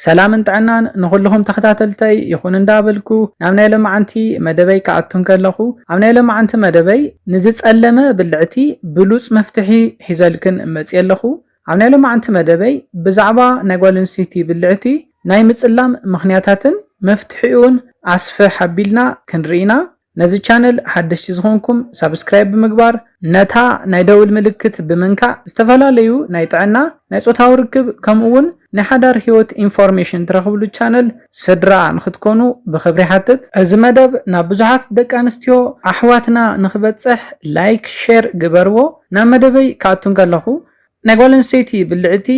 ሰላምን ጥዕናን ንኹልኹም ተኸታተልተይ ይኹን እንዳበልኩ ናብ ናይ ሎምዓንቲ መደበይ ክኣቱ እንከለኹ ኣብ ናይ ሎምዓንቲ መደበይ ንዝጸለመ ብልዕቲ ብሉጽ መፍትሒ ሒዘልክን መጽየ ኣለኹ ኣብ ናይ ሎምዓንቲ መደበይ ብዛዕባ ናይ ጓል ኣንስተይቲ ብልዕቲ ናይ ምጽላም ምኽንያታትን መፍትሒኡን ኣስፍሕ ኣቢልና ክንርኢ ኢና ነዚ ቻነል ሓደሽቲ ዝኾንኩም ሳብስክራይብ ብምግባር ነታ ናይ ደውል ምልክት ብምንካእ ዝተፈላለዩ ናይ ጥዕና ናይ ጾታዊ ርክብ ከምኡ ውን ናይ ሓዳር ሂወት ኢንፎርሜሽን ትረኽብሉ ቻነል ስድራ ንኽትኮኑ ብኽብሪ ይሓትት። እዚ መደብ ናብ ብዙሓት ደቂ ኣንስትዮ ኣሕዋትና ንኽበጽሕ ላይክ ሼር ግበርዎ ናብ መደበይ ክኣቱ እንከለኹ ናይ ጓል ኣንስተይቲ ብልዕቲ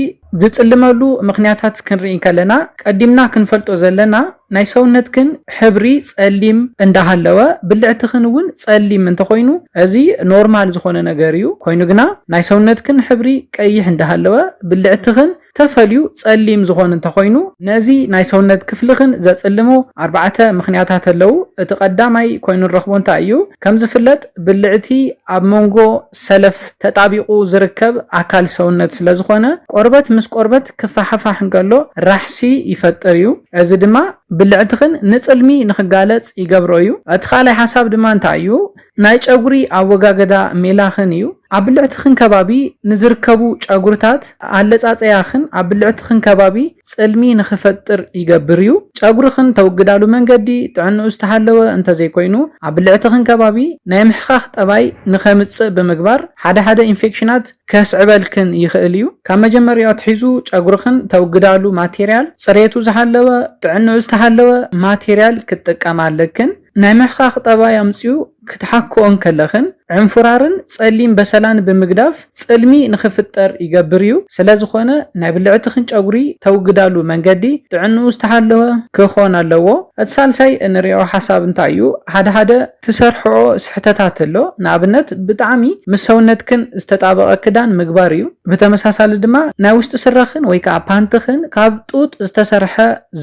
ዝጽልመሉ ምኽንያታት ክንርኢ እንከለና ቀዲምና ክንፈልጦ ዘለና ናይ ሰውነትክን ሕብሪ ጸሊም እንዳሃለወ ብልዕትኽን እውን ጸሊም እንተኾይኑ እዚ ኖርማል ዝኾነ ነገር እዩ ኮይኑ ግና ናይ ሰውነትክን ሕብሪ ቀይሕ እንዳሃለወ ብልዕትኽን ተፈልዩ ጸሊም ዝኾን እንተኾይኑ ነዚ ናይ ሰውነት ክፍልኽን ዘጽልሙ ኣርባዕተ ምኽንያታት ኣለው እቲ ቀዳማይ ኮይኑ ንረኽቦ እንታይ እዩ ከም ዝፍለጥ ብልዕቲ ኣብ መንጎ ሰለፍ ተጣቢቑ ዝርከብ ኣካል ሰውነት ስለ ዝኾነ፣ ቆርበት ምስ ቆርበት ክፋሓፋሕ እንከሎ ራሕሲ ይፈጥር እዩ። እዚ ድማ ብልዕትኽን ንጽልሚ ንኽጋለጽ ይገብሮ እዩ። እቲ ካልኣይ ሓሳብ ድማ እንታይ እዩ? ናይ ጨጉሪ ኣወጋገዳ ሜላኽን እዩ። ኣብ ብልዕትኽን ከባቢ ንዝርከቡ ጨጉርታት ኣለጻጸያኽን ኣብ ብልዕትኽን ከባቢ ጽልሚ ንኽፈጥር ይገብር እዩ። ጨጉርኽን ተውግዳሉ መንገዲ ጥዕንኡ ዝተሓለወ እንተዘይኮይኑ፣ ኣብ ብልዕትኽን ከባቢ ናይ ምሕኻኽ ጠባይ ንኸምጽእ ብምግባር ሓደ ሓደ ኢንፌክሽናት ከስዕበልክን ይኽእል እዩ። ካብ መጀመሪኡ ኣትሒዙ ጨጉርኽን ተውግዳሉ ማቴርያል ጽሬቱ ዝሓለወ ጥዕንኡ ዝተሓለወ ማቴርያል ክትጥቀማ ኣለክን። ናይ ምሕካኽ ጠባይ ኣምጺኡ ክትሓክኦ እንከለኽን ዕንፉራርን ጸሊም በሰላን ብምግዳፍ ጽልሚ ንኽፍጠር ይገብር እዩ። ስለዝኾነ ናይ ብልዕትኽን ጨጉሪ ተውግዳሉ መንገዲ ጥዕንኡ ዝተሓለወ ክኾን ኣለዎ። እቲ ሳልሳይ እንሪኦ ሓሳብ እንታይ እዩ ሓደ ሓደ ትሰርሕኦ ስሕተታት ኣሎ ንኣብነት ብጣዕሚ ምስ ሰውነትክን ዝተጣበቐ ክዳን ምግባር እዩ። ብተመሳሳሊ ድማ ናይ ውሽጢ ስረኽን ወይ ከኣ ፓንትኽን ካብ ጡጥ ዝተሰርሐ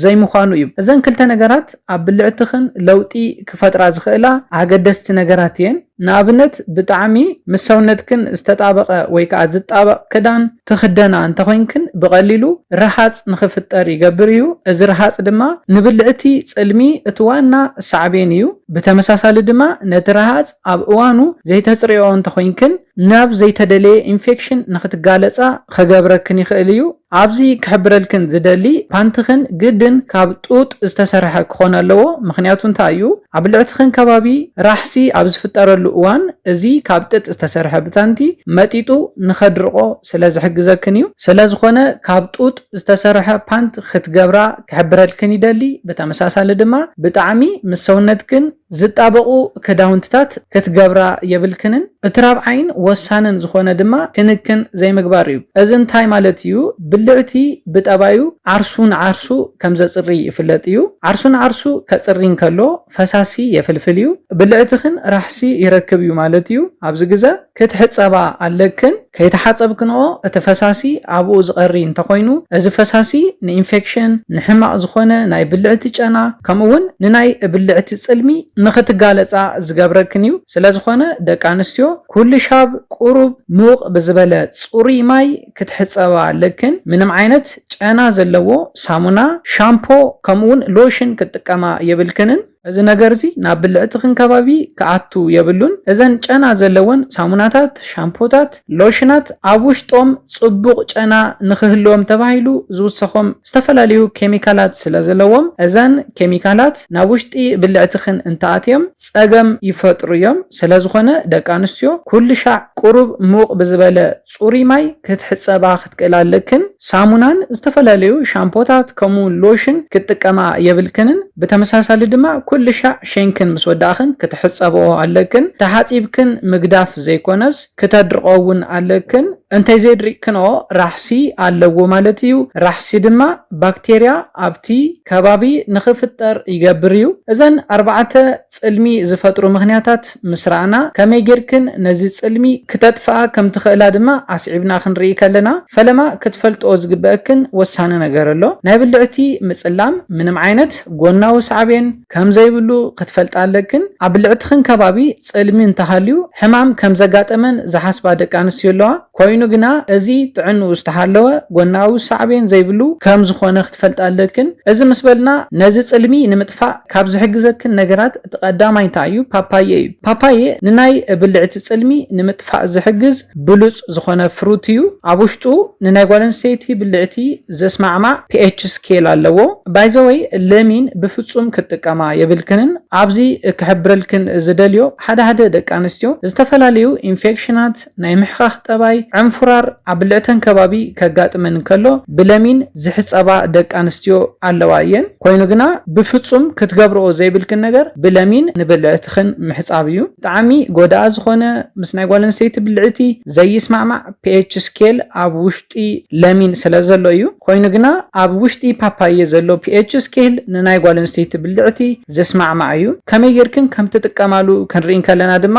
ዘይምዃኑ እዩ። እዘን ክልተ ነገራት ኣብ ብልዕትኽን ለውጢ ክፈጥራ ዝኽእላ ኣገደስቲ ነገራት እየን። ንኣብነት ብጣዕሚ ምስ ሰውነትክን ዝተጣበቐ ወይ ከኣ ዝጣበቕ ክዳን ትኽደና እንተኾይንክን ብቐሊሉ ረሃጽ ንኽፍጠር ይገብር እዩ። እዚ ረሃጽ ድማ ንብልዕቲ ጽልሚ እቲ ዋና ሳዕቤን እዩ። ብተመሳሳሊ ድማ ነቲ ረሃጽ ኣብ እዋኑ ዘይተጽርየኦ እንተኾይንክን፣ ናብ ዘይተደለየ ኢንፌክሽን ንኽትጋለጻ ኸገብረክን ይኽእል እዩ። ኣብዚ ክሕብረልክን ዝደሊ ፓንትኽን ግድን ካብ ጡጥ ዝተሰርሐ ክኾን ኣለዎ ምኽንያቱ እንታይ እዩ ኣብ ብልዕትኽን ከባቢ ራሕሲ ኣብ ዝፍጠረሉ እዋን እዚ ካብ ጥጥ ዝተሰርሐ ብታንቲ መጢጡ ንኸድርቆ ስለ ዝሕግዘክን እዩ ስለዝኾነ ካብ ጡጥ ዝተሰርሐ ፓንት ኽትገብራ ክሕብረልክን ይደሊ ብተመሳሳሊ ድማ ብጣዕሚ ምስ ሰውነትክን ዝጣበቑ ክዳውንትታት ክትገብራ የብልክንን፣ እቲ ራብዓይን ወሳንን ዝኾነ ድማ ክንክን ዘይምግባር እዩ። እዚ እንታይ ማለት እዩ? ብልዕቲ ብጠባዩ ዓርሱ ንዓርሱ ከም ዘጽሪ ይፍለጥ እዩ። ዓርሱ ንዓርሱ ከጽሪ እንከሎ ፈሳሲ የፍልፍል እዩ። ብልዕትኽን ራሕሲ ይረክብ እዩ ማለት እዩ። ኣብዚ ግዘ። ክትሕጸባ ኣለክን፣ ከይተሓጸብክንኦ እቲ ፈሳሲ ኣብኡ ዝቐሪ እንተኾይኑ እዚ ፈሳሲ ንኢንፌክሽን፣ ንሕማቕ ዝኾነ ናይ ብልዕቲ ጨና ከምኡ'ውን ንናይ ብልዕቲ ጽልሚ ንኽትጋለጻ ዝገብረክን እዩ። ስለዝኾነ ደቂ ኣንስትዮ ኩልሻብ ቁሩብ ሙቕ ብዝበለ ጽሩይ ማይ ክትሕጸባ ኣለክን፣ ምንም ዓይነት ጨና ዘለዎ ሳሙና፣ ሻምፖ ከምኡ'ውን ሎሽን ክትጥቀማ የብልክንን። እዚ ነገርዚ ናብ ብልዕትኽን ከባቢ ክኣቱ የብሉን እዘን ጨና ዘለወን ሳሙናታት ሻምፖታት ሎሽናት ኣብ ውሽጦም ጽቡቕ ጨና ንኽህልዎም ተባሂሉ ዝውሰኾም ዝተፈላለዩ ኬሚካላት ስለዘለዎም እዘን ኬሚካላት ናብ ውሽጢ ብልዕትኽን እንተኣትዮም ጸገም ይፈጥሩዮም ስለዝኾነ ደቂ ኣንስትዮ ኩሉሻዕ ቁሩብ ሙቕ ብዝበለ ጽሩይ ማይ ክትሕጸባ ክትክእላ ኣለክን፣ ሳሙናን ዝተፈላለዩ ሻምፖታት ከምኡውን ሎሽን ክትጥቀማ የብልክንን፣ ብተመሳሳሊ ድማ ኩልሻዕ ሸንክን ምስ ወዳእክን ክትሕጸበኦ ኣለክን፣ ተሓጺብክን ምግዳፍ ዘይኮነስ ክተድርቐኦ እውን ኣለክን፣ እንተይዘድሪቕክንኦ ራሕሲ ኣለዎ ማለት እዩ፣ ራሕሲ ድማ ባክቴርያ ኣብቲ ከባቢ ንክፍጠር ይገብር እዩ፣ እዘን ኣርባዕተ ጽልሚ ዝፈጥሩ ምኽንያታት ምስ ረኣና፣ ከመይ ጌርክን ነዚ ጽልሚ ክተጥፍኣ ከም ትኽእላ ድማ ኣስዒብና ክንርኢ ከለና፣ ፈለማ ክትፈልጥኦ ዝግበእክን ወሳኒ ነገር ኣሎ። ናይ ብልዕቲ ምጽላም ምንም ዓይነት ጎናዊ ሳዕቤን ከም ዘይብሉ ክትፈልጣ ኣለክን። ኣብ ብልዕትኽን ከባቢ ጽልሚ እንተሃልዩ ሕማም ከም ዘጋጠመን ዝሓስባ ደቂ ኣንስትዮ ኣለዋ። ኮይኑ ግና እዚ ጥዕንኡ ዝተሓለወ ጎናዊ ሳዕቤን ዘይብሉ ከም ዝኾነ ክትፈልጣ ኣለክን። እዚ ምስ በልና ነዚ ጽልሚ ንምጥፋእ ካብ ዝሕግዘክን ነገራት እቲ ቀዳማይ እንታይ እዩ? ፓፓየ እዩ። ፓፓየ ንናይ ብልዕቲ ጽልሚ ንምጥፋእ ዝሕግዝ ብሉጽ ዝኾነ ፍሩት እዩ። ኣብ ውሽጡ ንናይ ጓል ኣንስተይቲ ብልዕቲ ዘስማዕማዕ ፒኤች ስኬል ኣለዎ። ባይ ዘ ወይ ለሚን ብፍጹም ክትጥቀማ የብልክንን። ኣብዚ ክሕብረልክን ዝደልዮ ሓደ ሓደ ደቂ ኣንስትዮ ዝተፈላለዩ ኢንፌክሽናት፣ ናይ ምሕኻኽ ጠባይ፣ ዕንፉራር ኣብ ብልዕተን ከባቢ ከጋጥመን እንከሎ ብለሚን ዝሕጸባ ደቂ ኣንስትዮ ኣለዋ እየን። ኮይኑ ግና ብፍጹም ክትገብርኦ ዘይብልክን ነገር ብለሚን ንብልዕትኽን ምሕጻብ እዩ። ብጣዕሚ ጎዳኢ ዝኾነ ምስ ናይ ጓል ኣንስተይቲ ብልዕቲ ዘይስማዕማዕ ፒኤች ስኬል ኣብ ውሽጢ ለሚን ስለዘሎ እዩ። ኮይኑ ግና ኣብ ውሽጢ ፓፓየ ዘሎ ፒኤች ስኬል ንናይ ጓል ኣንስተይቲ ብልዕቲ ዝስማዕማዕ እዩ። ከመይ ጌርክን ከምትጥቀማሉ ክንርኢ እንከለና ድማ፣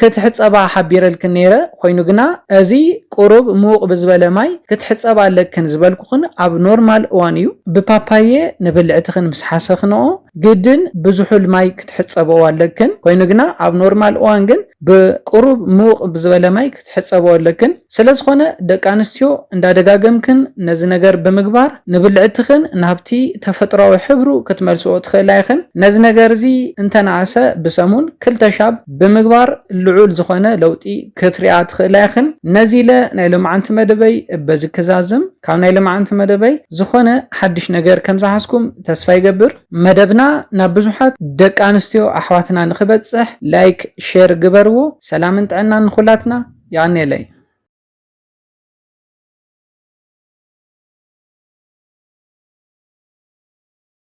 ክትሕጸባ ሓቢረልክን ነይረ፣ ኮይኑ ግና እዚ ቁሩብ ምውቕ ብዝበለ ማይ ክትሕጸባ ኣለክን ዝበልኩኽን ኣብ ኖርማል እዋን እዩ። ብፓፓየ ንብልዕትኽን ምስ ሓሰኽንኦ ግድን ብዝሑል ማይ ክትሕጸብኦ ኣለክን፣ ኮይኑ ግና ኣብ ኖርማል እዋን ግን ብቁሩብ ምውቕ ብዝበለ ማይ ክትሕጸብኦ ኣለክን። ስለዝኾነ ደቂ ኣንስትዮ እንዳደጋገምክን ነዚ ነገር ብምግባር ንብልዕትኽን ናብቲ ተፈጥሮኣዊ ሕብሩ ክትመልስኦ ትኽእላ ኢኽን። ነዚ ነገር እዚ እንተነኣሰ ብሰሙን ክልተ ሻብ ብምግባር ልዑል ዝኾነ ለውጢ ክትሪኣ ትኽእላ ኢኽን። ነዚ ኢለ ናይ ሎምዓንቲ መደበይ በዚ ክዛዝም። ካብ ናይ ሎምዓንቲ መደበይ ዝኾነ ሓድሽ ነገር ከምዝሓዝኩም ተስፋ ይገብር። መደብና ናብ ብዙሓት ደቂ ኣንስትዮ ኣሕዋትና ንኽበጽሕ ላይክ ሼር ግበርዎ። ሰላምን ጥዕናን ንኹላትና። ያኔለይ።